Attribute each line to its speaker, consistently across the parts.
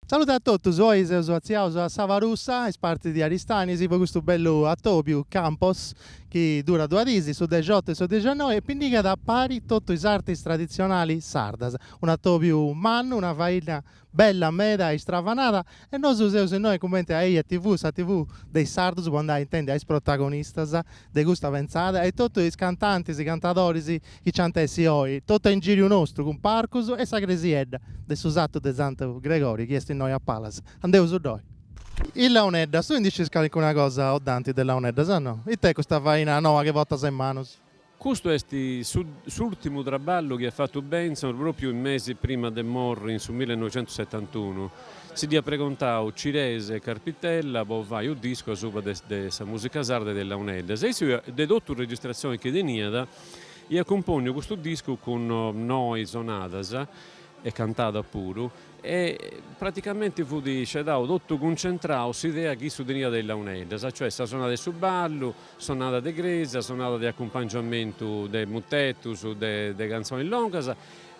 Speaker 1: Salute a totus, oi seus atziaus a Sabarussa, is partis de Aristanis, po custu bellu atobiu, Campos, chi durat duas dis, su dexiotu e su dixannoi, e pinnigat a pari totu is artis traditzionalis sardas. Un'atobiu mannu, una faina Bella meda e istravanada e nosu seus innoi cumenti a Eja TV, sa TV de is sardus po andai a intendi a is protagonistas de custa pentzada e totu is cantantis, cantadoris chi nc'ant essi oi, totu a ingiriu nostru cun parcus e sa cresiedda de su satu de Santu Gregori chi est innoi a palas. Andeus-ddoi. Is launeddas, tui ndi scis calincuna cosa o Dante de launeddas? No. It'est custa faina noa chi portas in manus? Custu
Speaker 2: est su s'ùrtimu traballu chi at fatu Bentzon pròpiu is mesis prima de morri in su millenoixentusetantunu. Si dd'iat pregontau Cirese e Carpitella po fai unu discu asuba de de sa mùsica sarda e de is launeddas e issu de totu is registrazionis chi teniat iat cumpònniu custu discu cun noi sonadas e cantadas puru e praticamenti fut scedau totu cuncentrau s'idea chi issu teniat de is launeddas, cioè sa sonada 'e su ballu. Sonada de crèsia, sonada de acumpangiamentu de mutetus, de cantzonis longas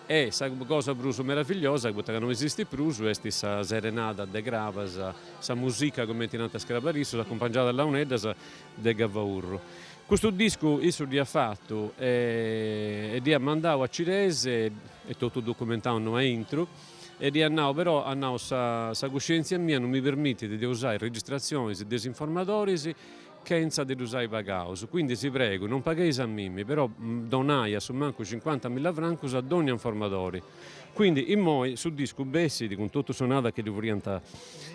Speaker 2: e sa cosa prus meravigliosa, poita ca no esistit prus, est sa serenada de Crabas, sa musica cumenti nant is crabarissus, acumpangiada a launeddas de Gavaurru. Custu discu issu dd'iat fatu e dd'iat mandau a Cirese, est totu documentau innoi a intru, e dd'iat nau, però, at nau, sa cuscièntzia mia no mi permitit de usai registratzionis de is informadoris, chentza de ddus ai pagaus, quindi si pregu, non pagheis a mimi, però donai a su mancu cincuanta milla francus a dònnia informadori. Quindi, immoi, su discu bessit, cun totu sonadas chi ddu furiant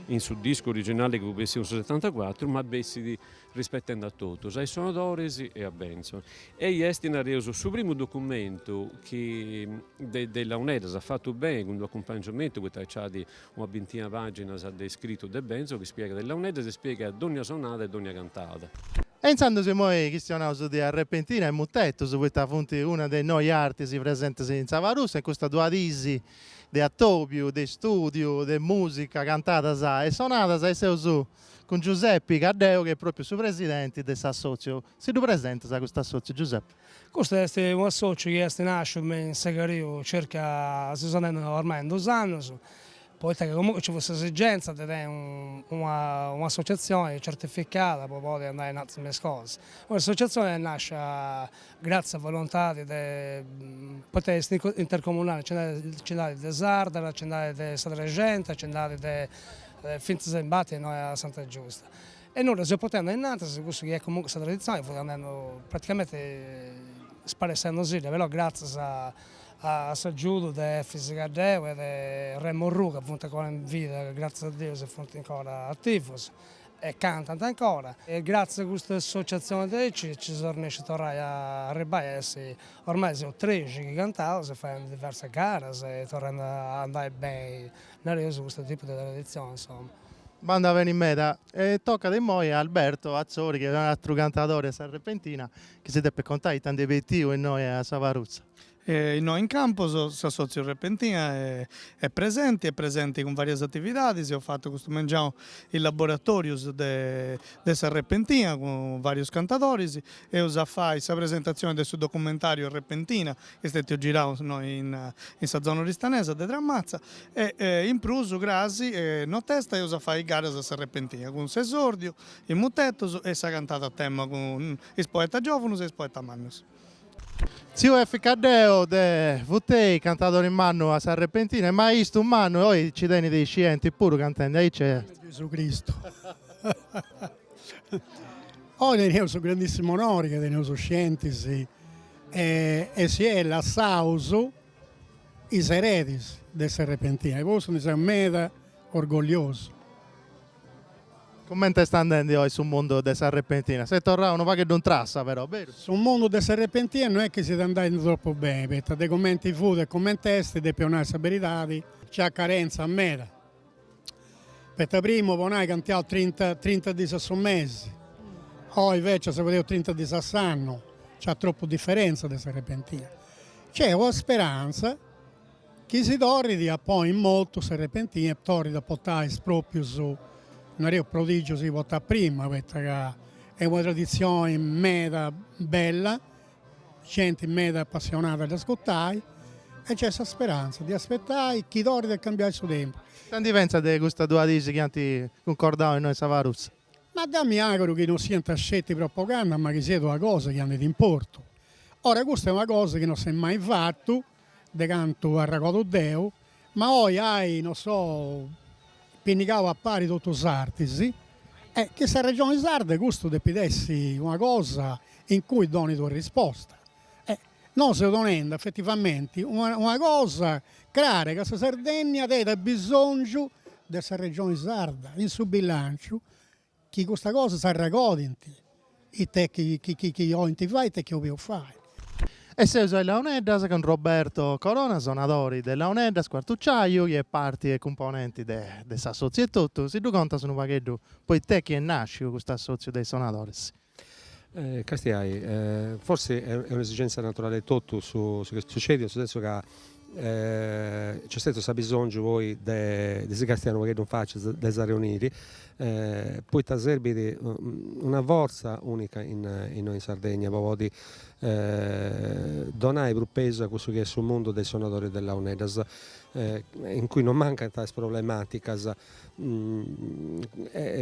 Speaker 2: in su discu originali chi fut bessiu in su setantacuatru, ma bessit rispetendi a totus, a is sonadoris e a Bentzon. Ei est, nareus, su primu documentu chi de de is launeddas at fatu beni cun d'unu acumpangiamentu poita nci at Una bintina pàginas de iscritu de Bentzon chi spiegat is launeddas e spiegat dònnia sonada e dònnia cantada. E intzandus
Speaker 1: imoi chistionaus de Arrepentina e Mutetus, poita funt una de is noi artis presentis in Sabarussa in custas duas diis de atobiu, de istùdiu, de mùsica, cantadas e sonadas e seus cun Giusepi Caddeu chi est pròpriu su presidenti de s'assòtziu. Si ddu presentas a cust'assòtziu Giusepi. Custu
Speaker 3: est un'assòciu chi est nàsciu me in Segariu circa seus andendi ormai in duus annus, poita chi comunque nci fut s'esigenza de tenni una un'associazioni certificada po podi andai innantis me is cosas. Oi s'associazioni est nàscia gratzias a volontadi de poita est intercomunali nci nd'at nci nd'at de Sardara, nci nd'at de sa Trexenta, nci nd'at de fintzas imbati innoi a Santa Giusta E nois dda seus portendi ainnantis, cussu chi est comunque sa traditzione fut andendi praticamente sparessendusì, però gratzias a s'agiudu de Efis Caddeo e de Remo Orrù ca funt ancora in vida, gratzias a Deus funt ancora ativus e cantant ancora, e gratzias a custa associazione nci seus arrennescius torrai a arribbai a essi, ormai seus trexi chi cantaus a fai diversas garas e torrendi a andai beni, nareus, custu tipu de traditzione insoma. Bandat
Speaker 1: beni meda e tocat immoi a Alberto Atzori chi est un'atru cantadori 'e sa Repentina chi si depet contai ita nd'est s'obietivu innoi a Siaparrutza. Innoi in
Speaker 4: Campus s'Assòtziu Repentina est presenti, est presenti cun varias atividadis, eus fatu custu mengianu is laboratorius de de sa Repentina cun varius cantadoris, eus a fai sa presentatzioni de su documentariu Repentina Est istetiu girau innoi in sa zona oristanesa de Tramatza e in prus cras in notesta eus a fai garas a s'arrepentina cun s'esordiu in Mutetus e sa cantada a tema cun is poetas giovunus e is poetas mannus.
Speaker 1: Tziu Efis Caddeo de Furtei, cantadori mannu a s'arrepentina e maistu mannu e oi ci tenit scientis puru cantendi aici est. Gesu Cristu.
Speaker 5: Oi teneus su grandissimu onori ca teneus scientis E si at lassau is eredis de s'arrepentina. E po cussu ndi seu meda orgogliosu.
Speaker 1: Cumenti est andendi oi su mundu de s'arrepentina? S'est torrau unu pagheddu in trassa però, beru? Su mundu de
Speaker 5: s'arrepentina no est chi siat andendi tropu beni, poita de cumenti fut e cumenti est, depu nai sa beridadi, nc'at carentzia meda. Poita primu po nai cantiaus trinta trinta dis a su mesi, oi invecias si fadeus trinta dis a s'annu, nc'at tropu diferentza de s'arrepentina. Nc'est una speranza chi si torrit a ponni in motu s'arrepentina e torrit a portai is proprius, nareus, prodigius chi portàt prima, poita ca est una traditzioni meda bella Genti meda apassionada a dd'ascutai e nc'est sa speranza de aspetai chi torrit a cambiai su tempus. Ita ndi pentzat de
Speaker 1: custas duas diis chi ant cuncordau innoi in Santeru? Ma deu
Speaker 5: mi àguru chi no siant sceti propaganda ma chi siat una cosa chi andit in portu. Ora custa est una cosa chi no s'est mai fata de cantu arregodu deu, ma oi ant, no so, pinnigau a pari totus is artis, e chi sa Regioni Sarda custu depit essi una cosa in cui donit una risposta. E nosu seus donendi effetivamenti una una cosa crara, ca sa Sardegna tenit bisongiu de sa Regioni Sarda in su bilanciu Chi custa cosa s'arragodint ite chi 'olint fai ite chi 'obeus fai. E seus
Speaker 1: a is Launeddas cun Roberto Corona, sonadori de Launeddas, cuartuciaju, chi est parti e cumponenti de de s'assotziu etotu, si ddu contas unu pagheddu po ite chi est nàsciu custu assotziu de is sonadoris.
Speaker 6: Castiai, forsi est un'esigèntzia naturale 'e totu su chi est sucèdiu, in su sensu ca nc'est stètiu s'abisòngiu poi de si castiai unu pagheddu in facia, de s'arreuniri, poita serbit una fortza unica innoi in Sardegna po podi donai prus pesu a cussu chi est su mundu de is sonadoris de launeddas, in cui non mancant is problemàticas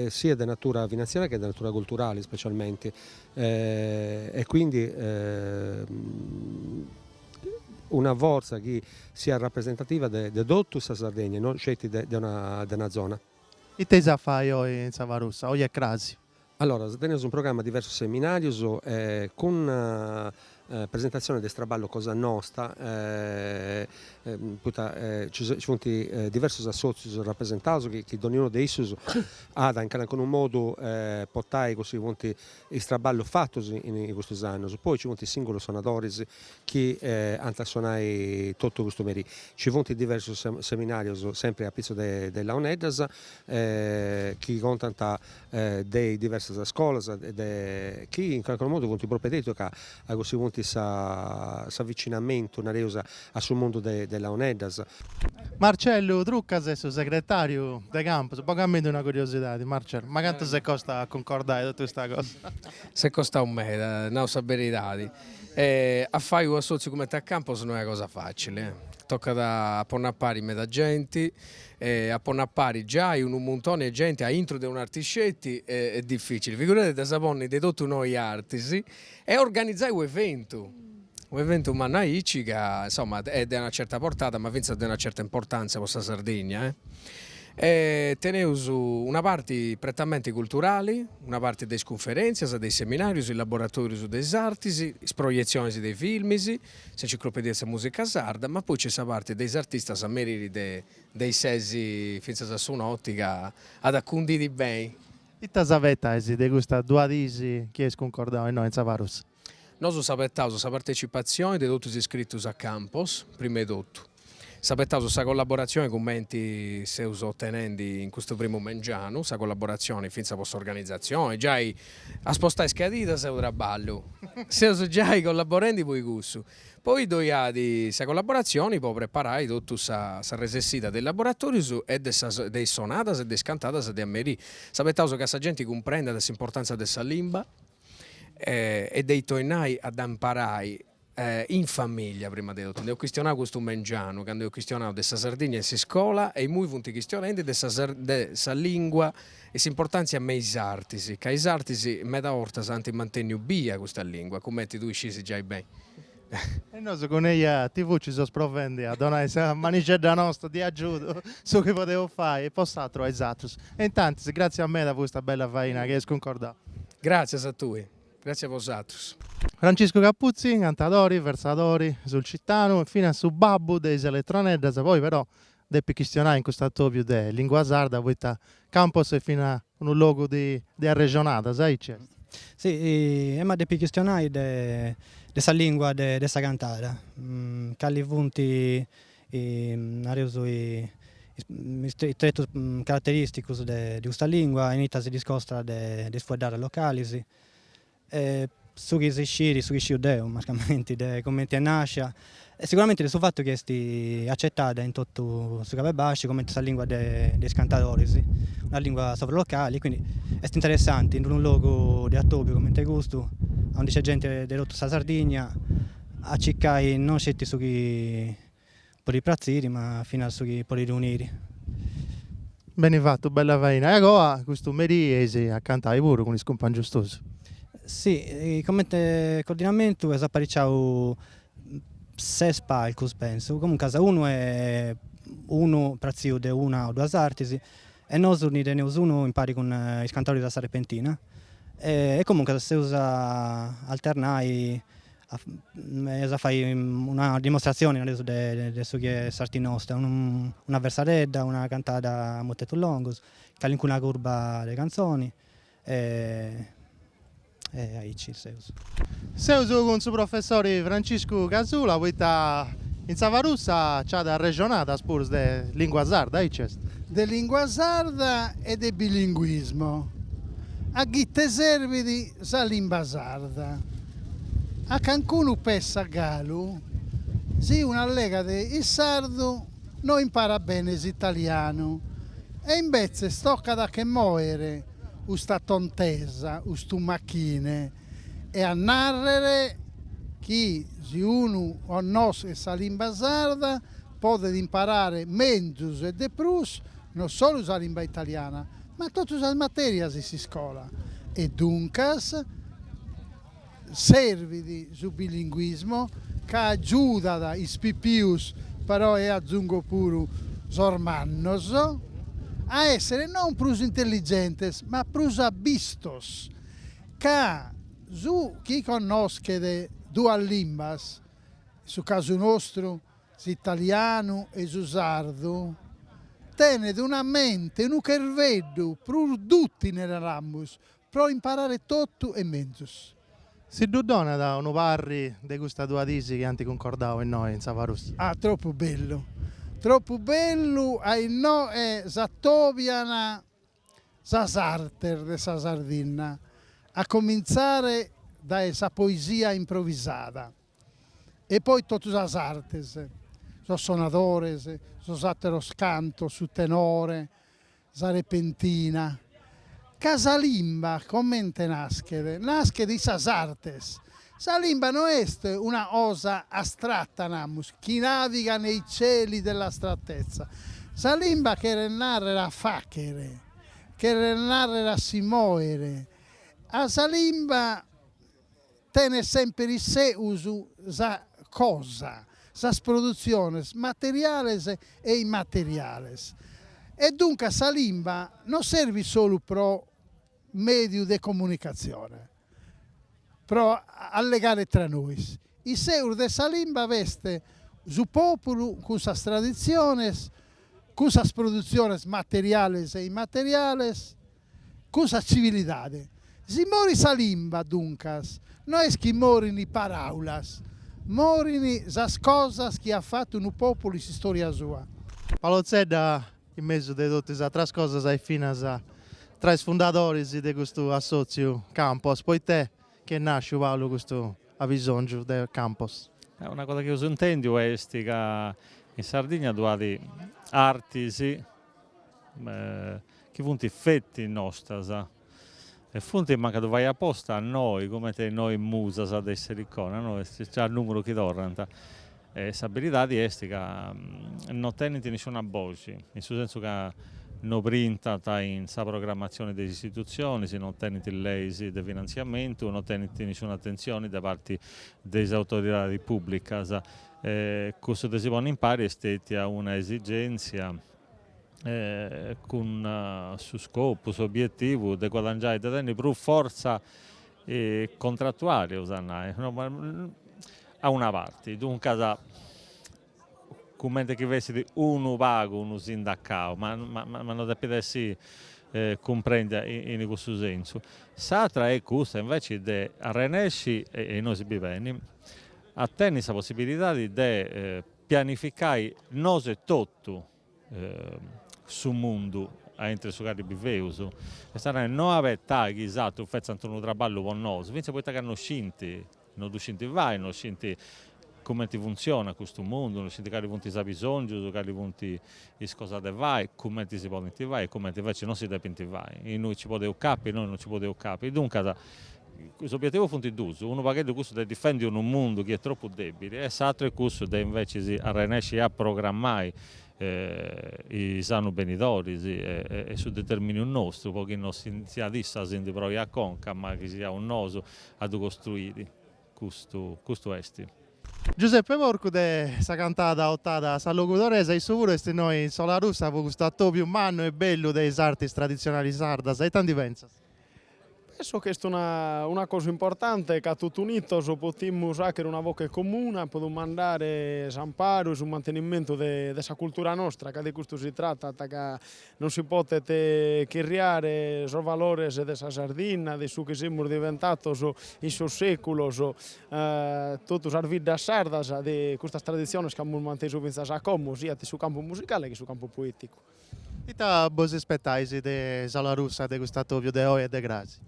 Speaker 6: siat de natura finantziaria che de natura culturale ispecialmente e quindi una forza chi siat rapresentativa de de totu sa Sardegna e no sceti de de una zona. Ite eis a
Speaker 1: fai oi in Sabarussa, oi e crasi? Alloras
Speaker 6: teneus in programma diversus seminarius cun presentatzione de is traballus cosa nosta poita ci ci funt diversus assotzius rapresentaus chi donniunu de issus at in calancunu modu portai cussu chi funt is traballus fatus in custus annus. Poi ci funt is singulus sonadoris chi ant a sonai totu custu merì. Ci funt diversus seminarius sempri apitzus de launeddas chi contant de is diversas scolas e chi in calcunu modu funt propedeuticas a cussu chi funt s'avvicinamentu nareus a su mundu de de Launeddas. Marcellu
Speaker 1: Truccas est su segretàriu de Campos, bogamindi una curiosidadi Marcellu, ma cantu s'est costau a cuncordai totu custa cosa? S'est
Speaker 7: costau meda, nau sa beridadi, e a fai unu assòtziu cumenti a Campos no est una cosa facili, tocat a ponni a pari meda genti, E a ponni a pari giai unu muntoni 'e genti a intru de un'arti sceti est dificili, figuradì a ddas ponni de totu noi artis e organizai u' eventu, u' eventu mannu aici ca insomma est de una certa portada ma finzas de una certa importanzia po sa Sardegna e e teneus una parti prettamente culturali, una parti de is cunferentzias, de is seminarius, is laboratorius de is artis, is proietzionis de is filmis S'enciclopedia de sa mùsica sarda, ma poi nc'est sa parti de is artistas a merì de de is ses fintzas a su noti ca at a cundiri beni. Ita
Speaker 1: s'abetais de custas duas dis chi eis cuncordau innoi in Sabarussa? Nosu s'abetaus
Speaker 7: sa partecipatzioni de totus is iscritus a Campos, prima 'e totu. S'apetaus sa collaboratzione cumenti seus otenendi in custu primu mengianu, sa collaboratzione fintzas po s'organizatzione, giai a spostai is cadiras est unu traballu, seus giai collaborendi po cussu, poi ddoi at sa collaboratzione po preparai totu sa sa resessida de is laboratorius e de sas de is sonadas e de is cantadas de a merì, s'apetaus ca sa genti cumprendat s'importanza de sa limba e de torrai a dda imparai in famìllia prima de totu. Nd'eus chistionau custu mengianu candu eus chistionau de sa Sardigna in s'iscola e imui funt chistionendi de sa de sa lìngua e s'importàntzia me is artis, ca is artis meda 'ortas ant mantenniu bia custa lìngua, cumenti tui scis giai beni.
Speaker 1: E nosu cun eja TV ci seus provendi a donai sa manixedda nosta de agiudu, su chi podeus fai e po s'aturu a is atrus. E intantis, gràtzias meda po custa bella faina chi eis cuncordau. Gràtzias a
Speaker 7: tui. Gràtzias a bosatrus.
Speaker 1: Franciscu Capuzzi, cantadori, versadori, sulcitanu e finas su babbu de is eletroneddas, poi però depit chistionai in custu atobiu de lingua sarda poita Campos est fina unu logu de de arrexonadas, aici est.
Speaker 8: Si, emu a depi chistionai de de sa lingua de de sa cantada, cali funt e nareus is tretus caraterìsticus de custa lìngua in ita si discostat de is fueddadas localis e su chi si sciri, su chi sciu deu mancamenti, de cumenti est nàscia e siguramenti de su fatu chi est acetada in totu su Cabu 'e Basciu cumenti sa lìngua de is cantadoris, una lìngua sovralocali, quindi est interessanti in unu logu de atobiu cumenti custu, aundi nc'est genti de totu sa Sardigna A cicai non sceti su chi podit pratziri, ma finas su chi podit
Speaker 1: uniri. Beni fatu, bella faina. E agoa custu merì eis a cantai puru cun is cumpangius tuus?
Speaker 8: Si, comente cordinamentu eus apariciau ses palcus pentzu, comuncas unu e unu pratziu de una o duas artis, E nosu ndi teneus unu impari cun is cantadoris a sa repentina. E comunque si eus a alternai eus a fai una dimostratzioni, nareus, de su chi est s'arti nosta, una versadedda, una cantada a mutetus longus, calincuna curba de cantzoni e E aici seus. Seus
Speaker 1: cun su professori Franciscu Casula poita in Sabarussa nc'at arrexonadas puru de lingua sarda, aici est. De lingua
Speaker 9: sarda e de bilinguismo. A ite serbit sa limba sarda? A cancunu pessat galu si unu allegat in sardu no imparat bene s'italianu e imbetzes tocat a che moere custa tontesa, custu machine e a nàrrere chi si unu connoschet sa limba sarda podet imparare menzus e de prus non solu sa limba italiana ma totu sas matèrias in s'iscola e duncas Servit su bilinguismo ca agiudat is pipius, però e azungo puru sos mannos, a èssere non prus intelligentes ma prus abistos, ca su chi connoschet duas limbas, in su casu nostru s'italianu e su sardu, tenet una mente, unu cherveddu prus dùtile, naramus, pro imparare totu e menzus. Si
Speaker 1: ddu donat unu parri de custas duas dis chi ant cuncordau a innoe in sa Farus. Ah, tropu bellu,
Speaker 9: tropu bellu, a innoe s'atobian sas artes de sa Sardinna, a comintzare dae sa poesia improvisada e poi totu sas artes, sos sonadores, sos àteros cantos, su tenore, Sa repentina. Ca sa limba comente naschet? Naschet in sas artes. Sa limba no est una cosa astrata, namus, chi navigat nei cieli dell'astrattezza. Sa limba cheret nàrrere a fàchere, cheret nàrrere a si mòere. Ca sa limba tenet semper isseus sa cosa, sas produtziones materiales e immateriales e duncas sa limba non servit solu pro mèdiu de comunicatzione, pro allegare tra nois. Isseus de sa limba b'est su pòpulu cun sas traditziones, cun sas produtziones materiales e immateriales, cun sa tzivilidade. Si morit sa limba, duncas, no est chi morint paràulas, morint sas cosas chi at fatu unu pòpulu in s'istòria sua. Paolo
Speaker 1: Zedda, in mesu de totu is atras cosas ses finas tra is fundadoris de custu assòtziu Campos, poita est chi est nàsciu, Paolo, custu abisòngiu de Campos? Una cosa chi eus
Speaker 10: intèndiu est ca in Sardigna ddu at artis chi funt feti nostras e funt mancu a ddu fai aposta noi cumenti is noi musas de s'Elicona no est già numeru chi torrant e sa beridadi est ca no tenint nisciuna boxi in su sensu ca no brintant in sa programmatzioni de is istitutzionis no tenint leis de finantziamentu no tenint nisciuna atentzioni de parti de is autoridadis pùblicas E cussu de si ponni impari est stètia una esigèntzia cun su scopu, s'obietivu de guadangiai, de tenni prus fortza contratuali, eus a nai, a una parti, duncas cumenti chi fessit unu pagu unu sindacau, ma ma no depit essi cumprèndiu in cussu sentzu. S'atra est custa inveci de arrennesci, e innoi si bi beni a tenni sa possibilidadi de pianificai nosu e totu su mundu aintru 'e su cali biveus, est a nai, no abetai chi is atrus fetzant unu trabballu po nosu, fintzas poita ca no scinti, no ddu scinti fai, no scinti cumenti funtzionat custu mundu, no scinti cali funt is abisongius, cali funt Is cosas de fai, cumenti si podint fai e cumenti inveci non si depint fai, innui nci podeu capi e innui non nci podeu capi. Duncas, is obiettivus funt duus, unu pagheddu cussu de difendi unu mundu chi est tropu dèbili e s'aturu est cussu de inveci arrenèsci a programai is annus benidoris e su determìniu nostru po chi non siat issu a si ndi proi a conca ma chi siaus nosu a ddu costruiri. Custu, custu esti.
Speaker 1: Giuseppe Porcu de sa cantada otada a sa logudoresa issu puru est innoi in Solarussa po custu atobiu mannu e bellu de is artis traditzionali sardas, ita ndi pentzas?
Speaker 11: Pensu chi est una una cosa importante ca totu unitos potimus àchere una voche comuna po dumandare s'amparu e su mantenimentu de de sa cultura nostra ca de custu si tratat ca Non si potet chirriare sos valores de sa Sardinna, de su chi semus diventatos in sos sèculos, totu sas biddas sardas, de custas traditziones chi amus mantesu fintzas a como, siat in su campu musicale che in su campu poèticu. Ita
Speaker 1: bos ispetais de Solarussa de cust'atòbiu de oe e de cras?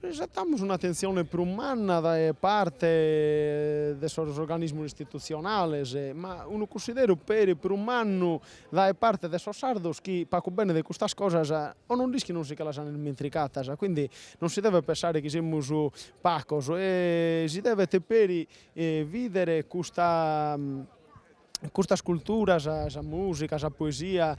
Speaker 11: Isetamus un'atentzione prus manna dae parte de sos organismos istitutzionales, ma unu cunsideru peri prus mannu dae parte de sos sardos chi pacu bene de custas cosas o non nd'ischint o si che las ant irmenticatas. Quindi non si devet pensare chi semus pacos e si devet peri bìdere custa Custas culturas, sa mùsica, sa poesia,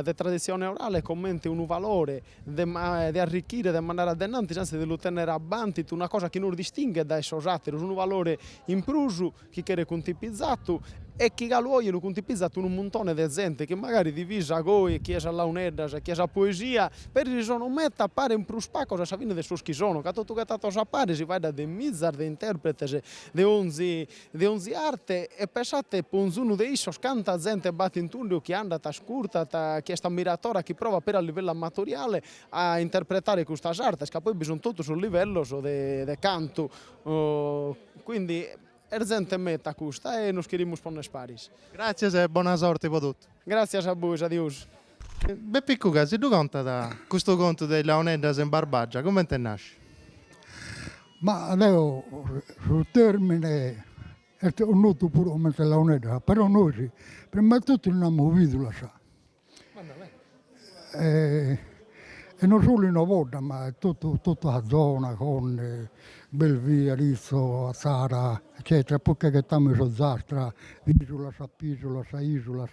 Speaker 11: de traditzione orale comente unu valore de de arrichire, de mandare a de innantis, antzis de lu tènnere abbantu, una cosa chi nos distinghet dae sos àteros, unu valore in prus chi cheret cuntipizatu e chi galu oje lu cuntipizat unu muntone de zente chi magari divisa goi chie sas launeddas e chie sa poesia, peri si sono meta paren prus pacos a sa fine de sos chi sono, ca totu ghetatos a pare si faeddat de mizas de intèrpretes de onzi de onzi arte e pensate po onzunu de issos canta zente b'at in tundu chi andat, ascurtat, chi est ammiratora, chi provat peri a livellu amatoriale a interpretare custas artes ca poi bi sunt totu sos livellos de de cantu quindi est zente meta custa e nos cherimus ponner paris. Gràtzias e bona
Speaker 1: sorte pro totu. Gràtzias a bois,
Speaker 11: adius.
Speaker 1: Bepi Cuga, si ddu contat custu contu de is launeddas in Barbagia, cumenti nascit?
Speaker 12: Ma deu su tèrmine est connotu puru cumenti launeddas, però nois prima 'e totu ndi namus bìdulas. e no solu in Ovodda ma totu totu sa zona, Fonne, Belvì, Aritzo, Atzara eccetera, puru che ghetamus in s'Ozastra, Isulas, bìsulas, Isulas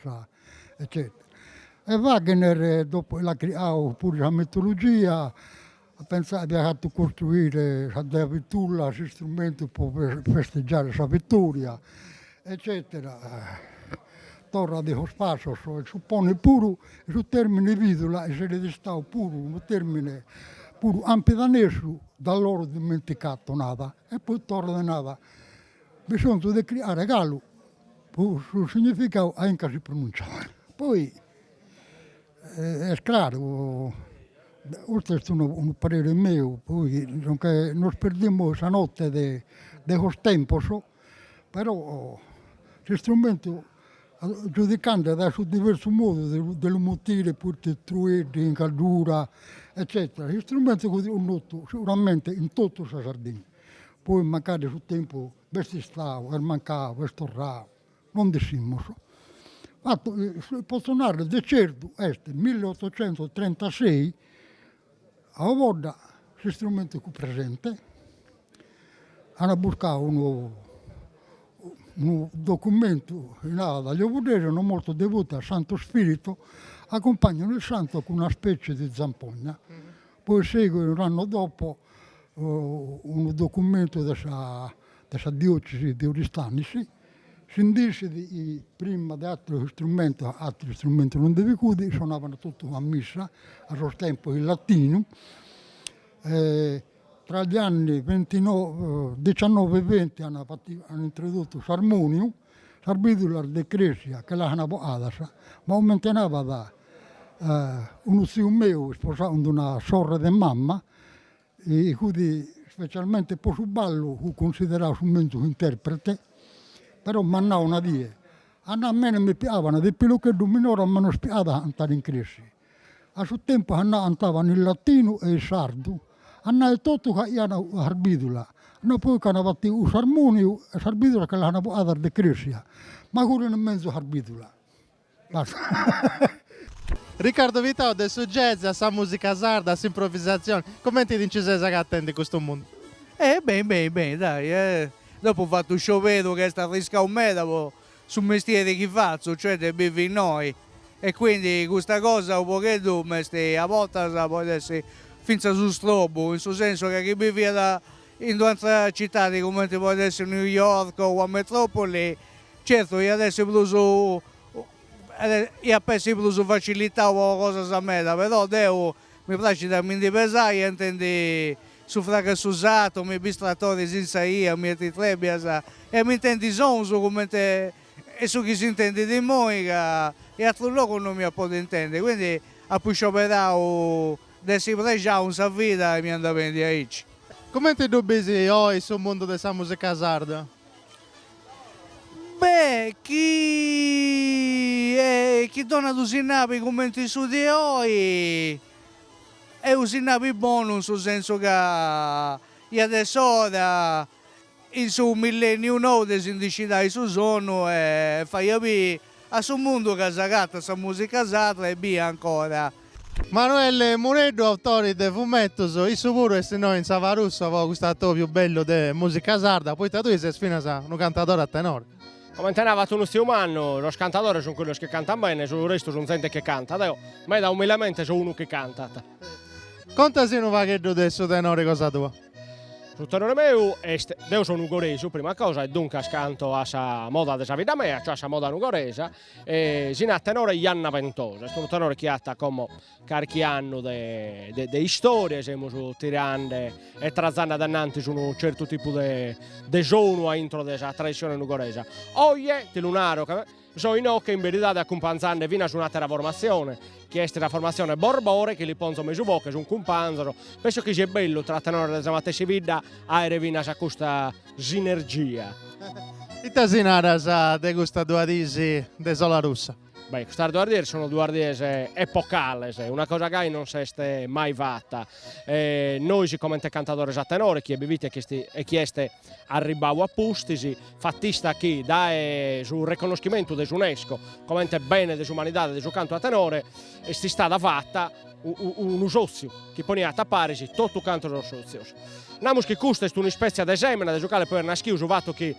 Speaker 12: eccetera. E Wagner dopu l'at criau puru sa mitologia At pensau chi at fatu costruire sa dea Vitula, s'istrumentu po festeggiare sa vittoria eccetera torrat in sos passos e supponit puru chi su termine vidula esseret istadu puru unu termine puru campidanesu da loro dimenticatu nada e poi torrat e nada bisonzu de cricare galu po su significau a inca si pronunciat poi Est craru, custu est unu unu parere meu, poi non che nos perdimus sa notte de de sos tempos, però s'istrumentu giudicende dae su diversu modu de lu de lu mutire, poi truedda in Gaddura eccetera, s'istrumentu fut connotu seguramente in totu sa Sardegna, poi mancari su tempus b'est istadu, est mancadu, est torradu No nd'ischimus. Fatu potzo narrer de certu est milleottocentotrentassei a Ovodda s'istrumentu fut presente ana buscau unu unu documentu chi narat gli ovoddesi erano molto devoti al Santo Spirito accompagnano il santo cun una specie di zampogna Poi seguit unu annu dopo unu documentu de sa de sa diocesi de Oristanis, si nd'essit chi prima de atteros istrumentos, atteros istrumentos non nde bi fut, isonavant totu sa missa, a sos tempus in latinu, tra gli anni venti no diciannove e venti an fati, an introdottu s'armoniu Sas bìdulas de crèsia che l'ant bogadas ma comente nabat unu tziu meu isposau cun una sorre de mama, fut specialmente po su ballu fut cunsiderau su menzus interprete, però m'at nau una die, a mene mi pigaban de pilocheddu minore ma nos pigat a cantare in crèsia, A su tempus cantànt in latinu e is sardus, a nai etotu ca iant a arbìdula, no poi ca ant fatu s'armòniu e s'arbìdula che l'ana portada de cresia, ma curu in mesu
Speaker 1: arbìdula. Riccardo Pittau de su jazz a sa musica sarda a s'improvisazioni, comenti ti nci ses agatendi in custu mundu? Eh beni beni beni
Speaker 4: dai, eh dopu fatu u scioberu ca est arriscau meda po su mestieri chi fatzu, cioè de bivi innoi, e quindi custa cosa u pagheddu m'est a bortas poit essi finzas u strobu, in su sensu ca chi biviat in d'u antra citadi cumenti poit essi New York o ua metropoli, certu iat essi prus iat essi prus facilitau po cosas meda, però deu Mi praxit a mi ndi pesai e intendi su fragu 'e su sartu, mi biri is tratoris in sa 'ia, mietitrèbias e mi intendi sonus cumenti e su chi s'intendit immoi ca in atrus logus no mi iat podi intendi, quindi apu scioberau de essi prexau in sa vida e mi andat beni aici. Cumenti ddu
Speaker 1: bisi oi su mundu de sa musica sarda?
Speaker 4: Be chi chi donnia unu sinnali cumenti su de oi est u sinnali bonu in su sensu ca iat essi ora in su milleniu nou de si ndi scidai 'e su sonnu e fai a bì A su mundu ca s'agatat sa musica sarda e bia ancora.
Speaker 1: Manuele Mureddu autore de fumettus, issu puru est innoi in Sa Barussa po custu atobiu bellu de musica sarda, poita tui ses finas unu cantadore a tenore. Comente
Speaker 13: narat unu tziu mannu, Sos cantadores sunt cussos chi cantant bene, su restu sunt zente chi cantat, deo meda umilamente so unu chi cantat. Contasì
Speaker 1: unu pagheddu de su tenore cosa tua. Su
Speaker 13: tenore meu est, deo so nugoresu prima cosa e duncas canto a sa moda de sa bidda mea, cioè a sa moda nugoresa e si narat tenore Ianna Ventosa, est unu tenore chi at como carchi annu de de istoria, semus tirande e trazande ad anantis unu certu tipu de de sonu a intro de sa tradissione nugoresa. Oje ti lu naro ca So inoche in beridade acumpanzande finas un'àtera formatzione, chi est sa formatzione Borbore, chi li ponzo mesu boche, sunt cumpanzos, penso chi siat bellu tra tenores de sa matessi bidda a àere finas a custa sinergia.
Speaker 1: Ite si naras de custas duas dies de sola russa? Beh, custas duas
Speaker 13: dies sunt duas dies epocales, una cosa gai non s'est mai fata, nois comente cantadores a tenore, chie bi fit e chie est Arribau a pustis, fatista chi dae su reconnoschimentu de s'Unesco comente Bene de s'Umanidade de su Cantu a Tenore est istada fata unu sòtziu chi poniat a paris totu cantos sos sòtzios. Namus chi custa est un'ispètzia de sèmena de su cale poi at naschiu su fatu chi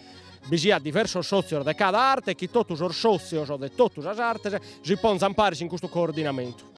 Speaker 13: bi siat diversos sòtzios de cada arte e chi totu sos sòtzios de totu sas artes si ponzan paris in custu coordinamentu.